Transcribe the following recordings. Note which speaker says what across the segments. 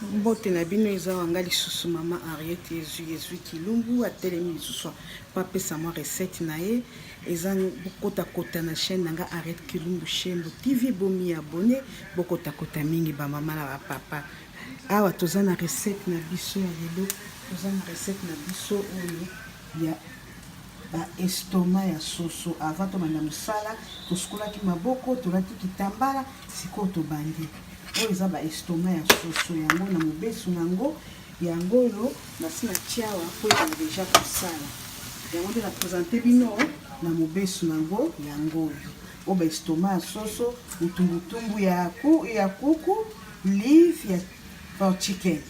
Speaker 1: mbote na bino eza wanga lisusu mama ariete ezwi ezwi kilumbu atelemi lisusu mpo apesa mwa recette na ye eza bokotakota na chaîne na nga ariete kilumbu shembo tv bomi abone bokotakota mingi bamama na bapapa awa toza na recette na biso ya lelo toza na recette na biso oyo ya ba estomac ya soso avant tobanda musala tosukolaki maboko tolati kitambala sikoyo tobandi oyo eza ba estomac ya soso yango na mobesu na yango yango oyo nasi na tiawa mpo ezala deja kosala yango nde na presente bino na mobesu na yango yango oyo oyo ba estomac ya soso mutumbutumbu ya, ku, ya kuku live ya porchiken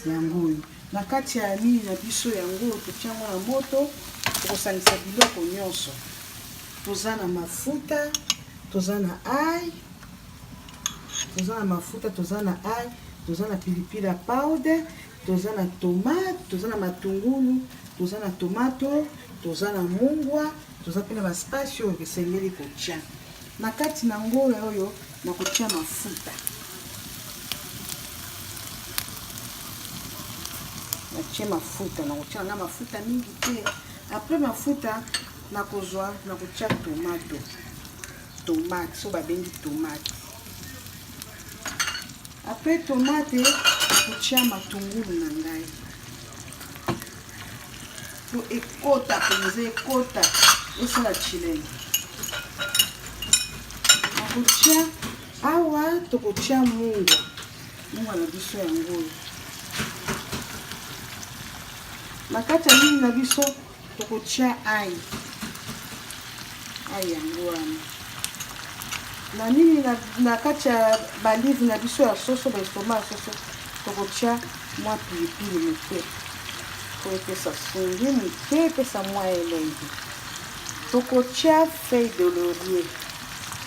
Speaker 1: yango oyo Na kati ya mini na biso yango totia yango na moto, tokosangisa biloko nyonso. Toza na mafuta, toza na ail, toza na mafuta, toza na ail, toza na pilipili ya powder, toza na tomate, toza na matungulu, toza na tomato, toza na mungwa, toza mpe na ba spice oyo esengeli kotia na kati na ngola oyo. Nakotia mafuta. Natie mafuta, nakotia na mafuta mingi te. Après mafuta nakozwa nakotia tomato. Tomate, so babengi tomate. Après tomate nakotia matungulu na ngai. po ekota mpenza ekota esala chilenge nakotya awa tokotya mungwa mungwa na biso yango oyo na kati ya nini na biso tokotya ai ai yango wana na nini na kati ya balive na biso ya soso baestoma ya soso Tokotya mwa pilipili moke mpo epesa songi moke, epesa mwa elengi. Tokotya feuille de laurier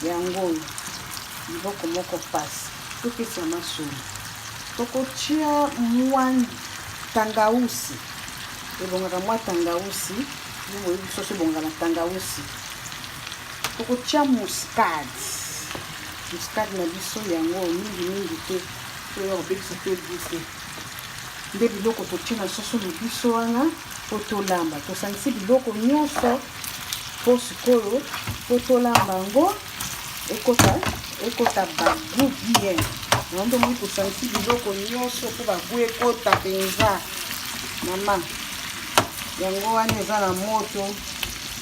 Speaker 1: yango oyo biloko moko mpasi topesa masolo. Tokotya mwa tangausi, ebongaka mwa tangausi ndenge oyebi soso ebongaka na tangausi. Tokotya muscade, muscade na biso yango mingi mingi te. Toya kobebisa mpe gute nde biloko totie na soso na biso wana mpo tolamba. Tosangisi biloko nyonso mpo sikoyo mpo tolamba yango ekota ekota bagu bien yango nde omoi tosangisi biloko nyonso mpo bagu ekota mpenza mama yango wana eza na moto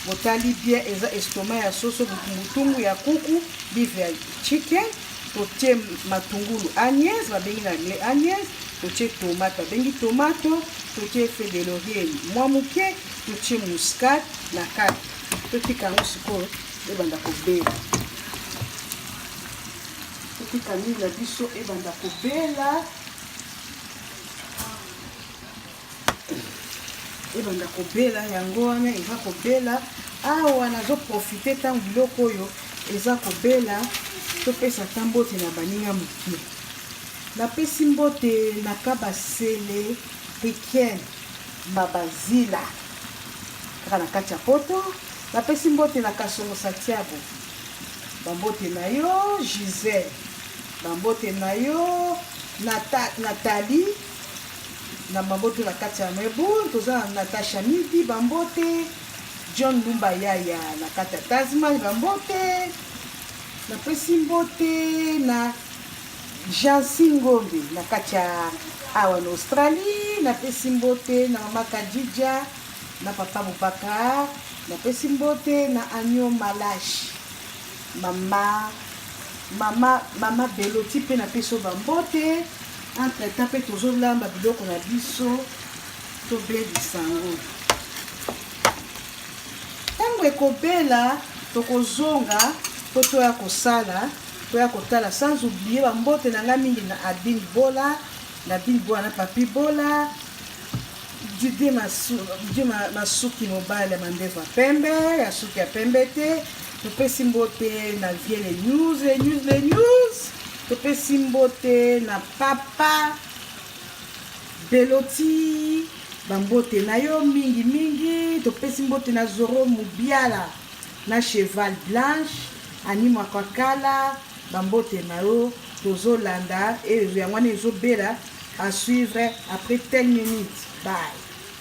Speaker 1: botali bien eza estoma ya soso butumbutumbu ya kuku bive ya chicken totie matungulu agnese babengi na anglais agnese totie tomate babengi tomato totie efe de laurier mwa moke totie muscade na kati totika yango sikoyo ebanda kobela totika mingi na biso ebanda kobela ebanda kobela yango wana eza kobela awa nazoprofite ntango biloko oyo eza kobela topesa ata mbote na baninga moke napesi mbote na kabasele riken mabazila kaka na kati ya poto napesi mbote na kasongo santiago bambote na yo gisele bambote na yo natali na mabotu na kati ya mebu toza na natasha midi bambote john lumba yaya na kati ya tasman bambote napesi mbote na jansi ngombe na kati ya awa na australie napesi mbote na mama kadija na papa bobakar napesi mbote na anio malashi mama mama mama beloti mpe napesi yo bambote Entre temps mpe tozolamba biloko na biso tobelisa yango. Ntango ekobela tokozonga mpo toya kosala toya kotala sans oublier bambote na ngai mingi na abine bola na bine bola na papi bola dide masuki mobali ya mandefu ya pembe ya suki ya pembe te Topesi mbote na vie les news les news les news. Topesi mbote na papa Beloti bambote na yo mingi mingi topesi mbote na zoro mubiala na cheval blanche ani makwakala bambote na yo tozolanda ezo yango wana ezobela à suivre après 10 minutes bye